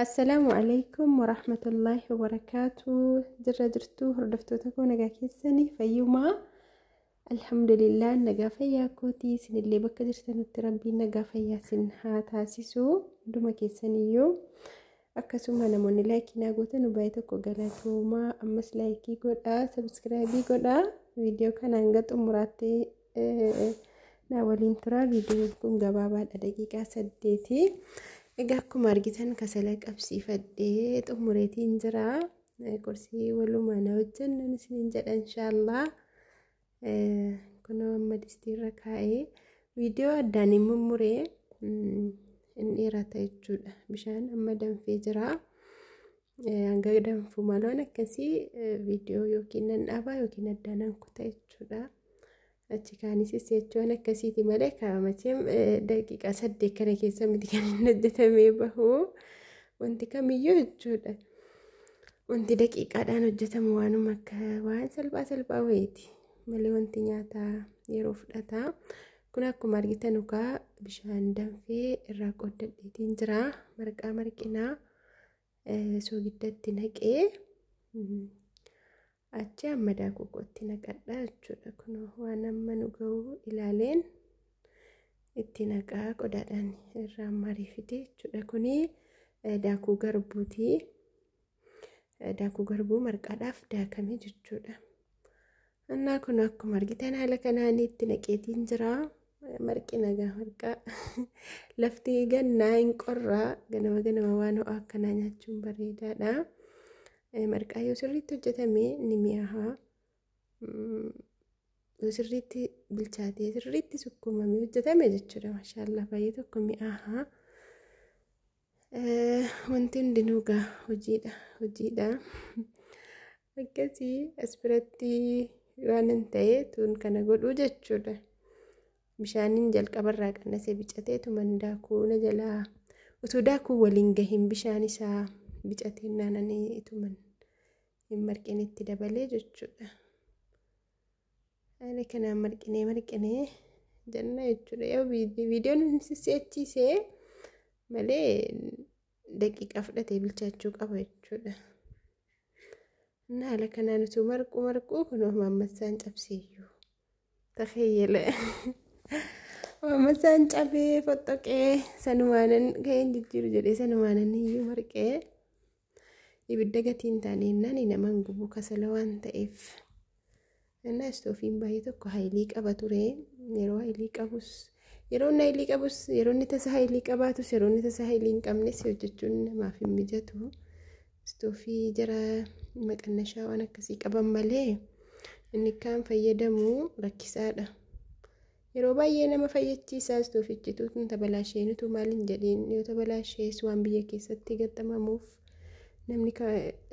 Assalaamu alaikum warahmatullaahi wabarakaatuu jirra jirtuu hordoftoota koo nagaa keessanii fayyumaa alhamdulillah nagaa fayyaa kootii isinillee bakka jirtanitti rabbiin nagaa fayyaa isin haa taasisu hunduma keessaniyyuu akkasuma namoonni laayikii naa gootan baay'ee tokko galatoomaa ammas laayikii godhaa sabiskiraabii godhaa viidiyoo kana hanga xumuraatti na waliin turaa viidiyoon kun gabaabaadha daqiiqaa saddeeti egaa akkuma argitan kasala qabsiifadhee xumureetiin jira qorsii walumaa na hojjennan isiniin jedha inshaallah kunoo amma distiirra kaa'ee viidiyoo addaan hin mummuree hin dheerata jechuudha bishaan amma danfee jira Hanga danfu maloon akkasii viidiyoo yookiin nan dhaabaa yookiin addaa nan kuta jechuudha. Achi kaanis jechuun akkasiiti malee kaa'amacheem daqiiqaa saddeet kana keessa miti kan hin hojjetamee bahu wanti kamiyyuu jechuudha. Wanti daqiiqaadhaan hojjetamu waanuma akka waan salphaa salphaa wayiiti malee wanti nyaataa yeroo fudhata. Kun akkuma argitan ukaa bishaan danfee irraa qooddateetiin jira marqaa marqinaa. soogiddatti naqee achi amma daakuu kootti naqadha jechuudha kun waan amma nu ga'u ilaaleen itti naqaa qodaadhaan irraa mariifite jechuudha kun daakuu garbuuti daakuu garbuu marqaadhaaf daakame jechuudha Annaa kun akkuma argitan haala kanaan itti naqeetiin jira. Marqi nagaa marqaa. Lafti gannaa hin qorraa. Ganama ganama waan ho'aa akkanaa nyaachuun bareedaadha. Marqaa yoo sirriitti hojjetame ni mi'aaha. Yoo sirriitti bilchaatee sirriitti sukkuumamee hojjetame jechuudha. Maashaallah baay'ee tokko mi'aaha. Wanti hundinuu gaa hojiidha hojiidha akkasii as biratti waan hin ta'ee tuun kana godhuu jechuudha. Bishaaniin jalqabarraa qannasee bicateetu mandaa kuuna jalaa utuu daakuu waliin gahin bishaan isaa bicatee naananii ituman hin marqinitti dabalee jechuudha. Haala kanaan marqinee marqinee jenna jechuudha. Yoo viidiyoon hin sisseechiisee malee daqiiqaa fudhatee bilchaachuu qaba jechuudha. Inni haala kanaan utuu marquu marquu kun maammassaan cabseeyyuu. Takheeyyele. Maammassaan cabee foxxoqee sanumaanan gaheen jijjiiru jedhee sanumaanan iyyuu marqee. ibidda gatii hin taane innaan nama hin gubu kasala waan ta'eef innaa istoofiin baay'ee tokko haayilii qaba ture yeroo haayilii qabus yeroo inni haayilii qabus yeroo inni tasa haayilii qabaatus yeroo inni tasa haayilii hin qabnes hojjechuun namaaf hin mijatu istoofii jara maqannashaa waan akkasii qaban malee inni kaan fayyadamu rakkisaadha. Yeroo baay'ee nama fayyachiisaas toofichituu tun tabalaashee nutuu maal hin jedhiin yoo tabalaashees waan biyya keessatti gaxxamamuuf namni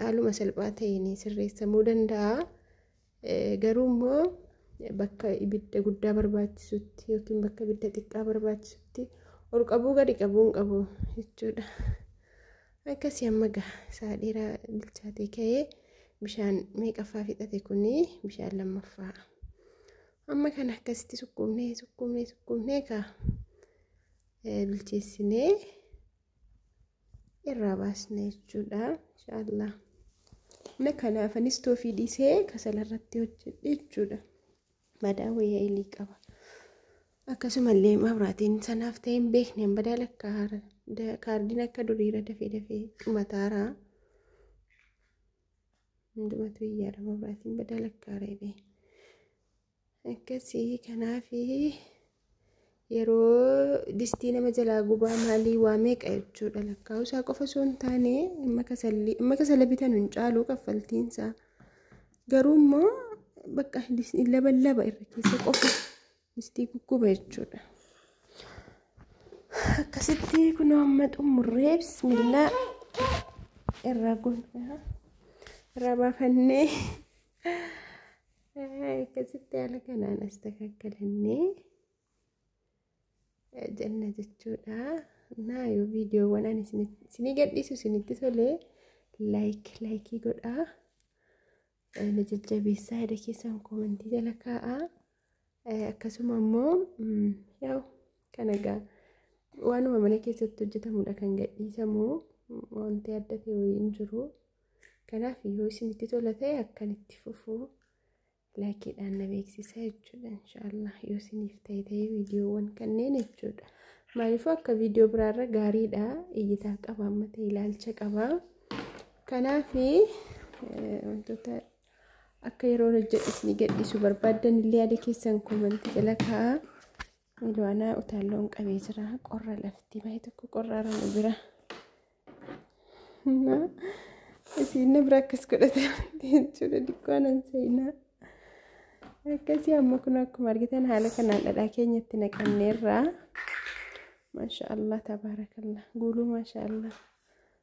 haaluma salphaa ta'een sirreessamuu danda'a. Garuu immoo bakka ibidda guddaa barbaachisutti yookiin bakka ibidda xiqqaa barbaachisutti ol qabuu gadi qabuu hin qabu jechuudha. Akkasii amma gaha isaa dheeraa bilchaatee ka'ee bishaan meeqaffaa fixate kuni bishaan lammaffaa. Amma kana akkasitti sukkuumnee sukkuumnee sukkuumnee kaa bilcheessinee irraa baasna jechuudha. Inshaallah. Na kanaaf anis toofii dhiisee kasala irratti hojjedhe jechuudha. Madaa wayyaa ilii qaba. Akkasumallee mabraatiin sanaaf ta'e hin beekne hin badaa lakka kaardiin akka duriira dafee dafee dhumataara. hundumatu iyyaadha mabraatiin badaa lakkaa reebee akkasii kanaafi yeroo distii nama jalaa gubaa maalii waa meeqa jechuudha lakkaa'usaa qofa osoo hin taane amma kasallii amma kasala bitan hin caalu kaffaltiinsaa garuu immoo bakka laba laba irra keessa qofa Distii gugguba jechuudha. Akkasitti kunoo amma xumurree bismillaa irraa gonfaa irraa baafannee akkasitti haala kanaan as takakkalannee jenna jechuudha. Naa yoo viidiyoowwan ani isinii gadhiisu isinitti tolee laayik laayikii godhaa. na jajjabeessaa yaada keessan koomentii jala kaa'aa akkasuma immoo yaa'u kan egaa waanuma mana keessatti hojjetamudha kan gadhiisamu wanti adda ta'e wayii hin jiru kanaaf yoo isinitti tola ta'e akkan itti fufu laakiidhaan na beeksisa jechuudha inshaallah yoo isiniif ta'e ta'e viidiyoowwan kanneen jechuudha maaliifuu akka viidiyoo biraarra gaariidha iyyitaa qaba amma ta'e ilaalcha qaba. Kanaaf wantoota akka yeroo hojjedhu isin gadhiisu barbaaddan illee yaada keessan koomantii jala kaa'aa. Ilwaanaa utaalloon qabee jira. Qorra lafti baay'ee tokko qorra aramu bira. Isin bira akkas godhate jechuudha dikkoon hin seenaa. Akkasii amma kun akkuma argitan haala kanaan dhadhaa keenyatti naqanneerra. Maasha Allah tabaarakallah guuluu maasha Allah.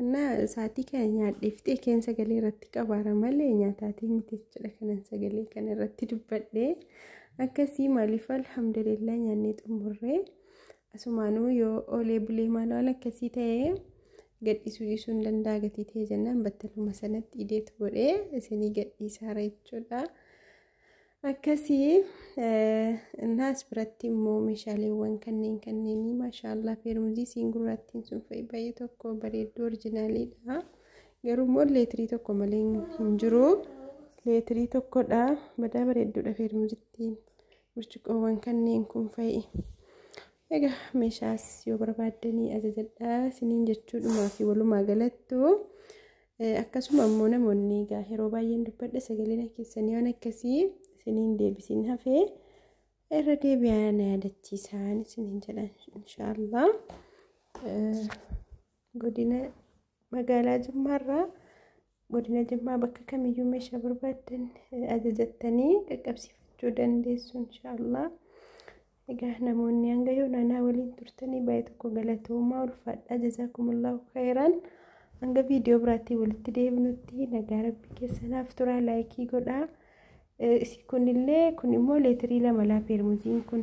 እና sa'aatii kana nyaadhee fixee keen sagalee irratti qabaara malee nyaataatii miti jechuudha kanan sagalee kana irratti dubbadhee akkasii maaliif alhamdulillah nyaannee xumurree asumaanuu yoo oolee bulee maal waan akkasii ta'ee gadhiisuu dhiisuu hin danda'a gatii ta'ee jennaan battaluma sanatti ideetu godhee isinii gadhiisaara jechuudha. akkasii naas biratti immoo meeshaaleewwan kanneen kanneenii maashaallah feermuzii siin gurraattiin sun fa'i baay'ee tokko bareedduu orjinaaliidha garuu immoo leetirii tokko malee hin jiru leetirii tokkodha badaa bareedduudha feermuzittiin burcuqqoowwan kanneen kun fa'i egaa meeshaas yoo barbaaddanii ajajadhaa siniin jechuudhumaa fi walumaa galattu Akkasuma ammoo namoonni egaa yeroo baay'een dubbadha sagaleen keessanii waan akkasii isiniin deebisiin hafee irra deebi'aa na yaadachiisaan isiniin jedha inshaallah. Godina magaalaa Jimmaarraa godina Jimmaa bakka kamiyyuu meeshaa barbaaddan ajajattanii qaqqabsiifachuu dandeessu inshaallah. Egaa namoonni hanga yoona anaa waliin turtanii baay'ee tokko galatoomaa ulfaadhaa jazaakumullahu khayraan hanga viidiyoo biraatiin walitti deebinutti nagaa rabbii keessanaaf turaa laayikii godhaa Eh, isi kunillee kun immoo leetirii lama laa peermuziin kun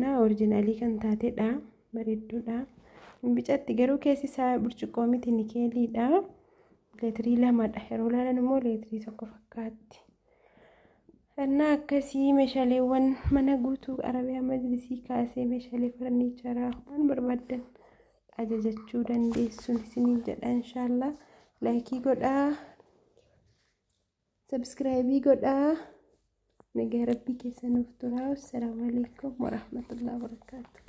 na orijinaalii kan taatedha bareedduudha hin bicatti garuu keessi isaa burcuqqoo miti nikeeliidha leetirii lamadha yeroo laalan immoo leetirii tokko fakkaatti Hannaa akkasii meeshaaleewwan mana guutuu Arabiyaa Majlisii kaasee meeshaalee farniicharaa waan barbaaddan ajajachuu dandeessuun isiniin jedha inshaallah laayikii godhaa sabskraayibii godhaa nagaa rabbii keessa nuuf turaa assalaamu alaikum warahmatullahi wabarakaatu